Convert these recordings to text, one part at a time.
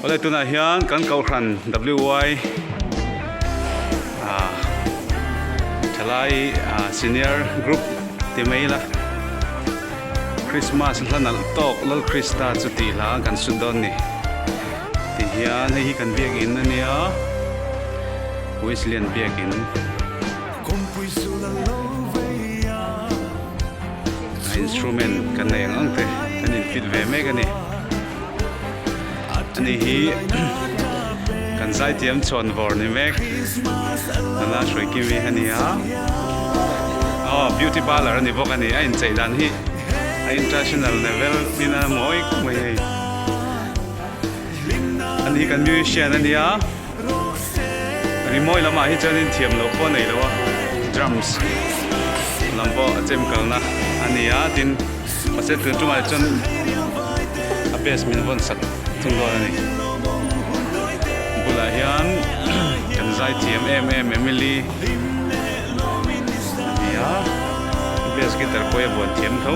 Awle tunah hian kan Kohhran WY ah Thalai ah Senior Group ti mai ila Christmas hla nalh tawk Lalkrista chuti hla kan sawi dawn ni ti hian hei hi kan biakin a nia Weslyan biakin. a instrument kan nei ang ang te kan in fit ve mek a ni a ni hi kan zaitiam chhuan vawr ni mek nana hruai kim hi a ni a oh beauty parlour a ni bawk a ni a in chei dan hi a international level in a mawi khawp mai hei a ni kan musician a ni a. Rimawi lamah hi chuan in thiam loh pawh a nei lo a, drums lam pawh a chem kalna a ni a, tin hmasa tur chungah te chuan a bass min vawn sak thung dawn a ni. Bulah hian kan zai thiam em em Emily a ni a, bass guitar pawhi a vuan thiam tho.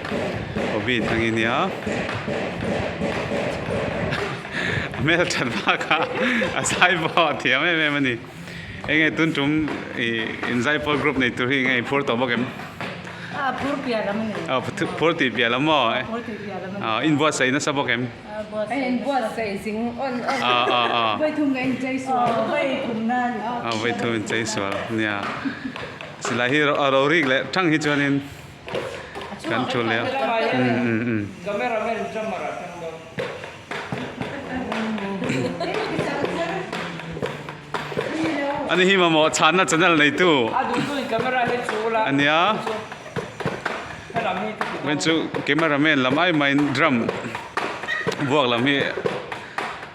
Covid angin nia hmel that baka a zai pawh a thiam em em a ni hei nge tun tum i inzaipawr group nei tur hi nge i phur tawh bawk em a phur piah lam a ni a phur tih piah lam maw a phur tih piah lam a ni a inbuat saih nasa bawk em a inbuat saih zing awn a a a vawi thum in chei sual a vawi thum na a ni a vawi thum in chei sual nia silai hi a rorek leh thang hi chuan in kan thu leh a ni hi mamawh chhanna channel neitu a nia hei chu camera man lam ai mai in drum buak lam hi.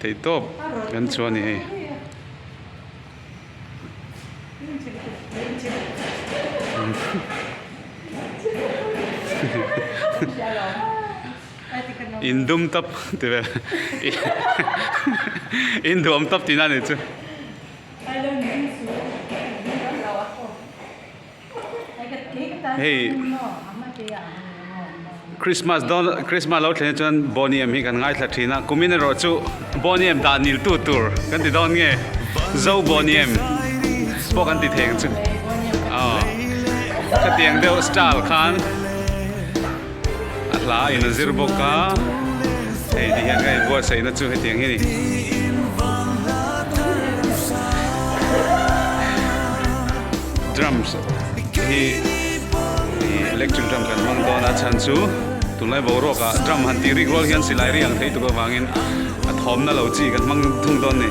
Thei tawp kan chu a ni hei. In dum tap ti ve. In duam tap tina ni chu. hei Christmas dawn Christmas lo thleng chuan Boney em hi kan ngaithla thin a kumin erawh chu Boney em dah nil tu tur kan ti dawn nge Zo Boney em pawh kan ti thei ang chu aw khatiang deuh style khan. A hla a in zir bawk a, hei ti hian kha i buatsaih na chu hetiang hi ni. Drums hi electric drum kan hmang dawn a chhan chu tunlai boruak ah drum han tih rik rual hian silai ri ang thei tuk avangin a thawmna lo chi kan hmang thung dawn ni.